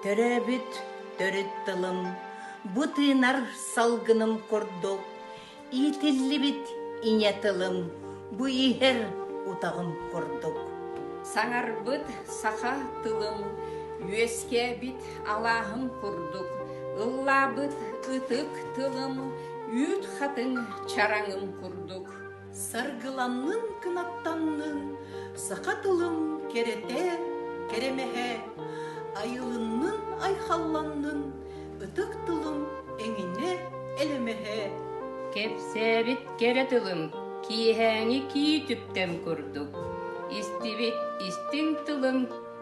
Төрөөбүт төрүт тылым, бу тыынар салгыным курдук, иитиллибит ийэ тылым, бу иһэр утаҕым курдук. Саҥарбыт саха тылым үөскээбит Алааһым курдук ыллаабыт ытык тылым, үүт хатыҥ чараҥым курдук. Саргыланнын кынаттаннын саха тылым кэрэтэ, кэрэмэһэ, айылыннын айхалланнын ытык тылым эҥинэ элэмэһэ. Кэпсээбит кэрэ тылым киэһээҥи кии түптэн курдук, истибит истиҥ тылым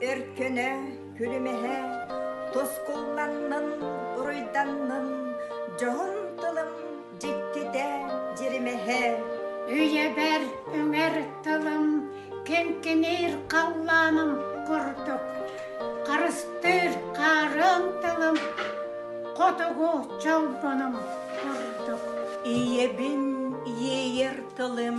Өркөнө, күлүмэһэ, тускулланнын, уруйданнын, дьоһун тылым дьиктитэ, дьиримэһэ. Үйэбэр үҥэр тылым киҥкиниир халлааным курдук, харыстыыр хаарыан тылым хотугу чолбонум курдук. Ийэбин иэйэр тылым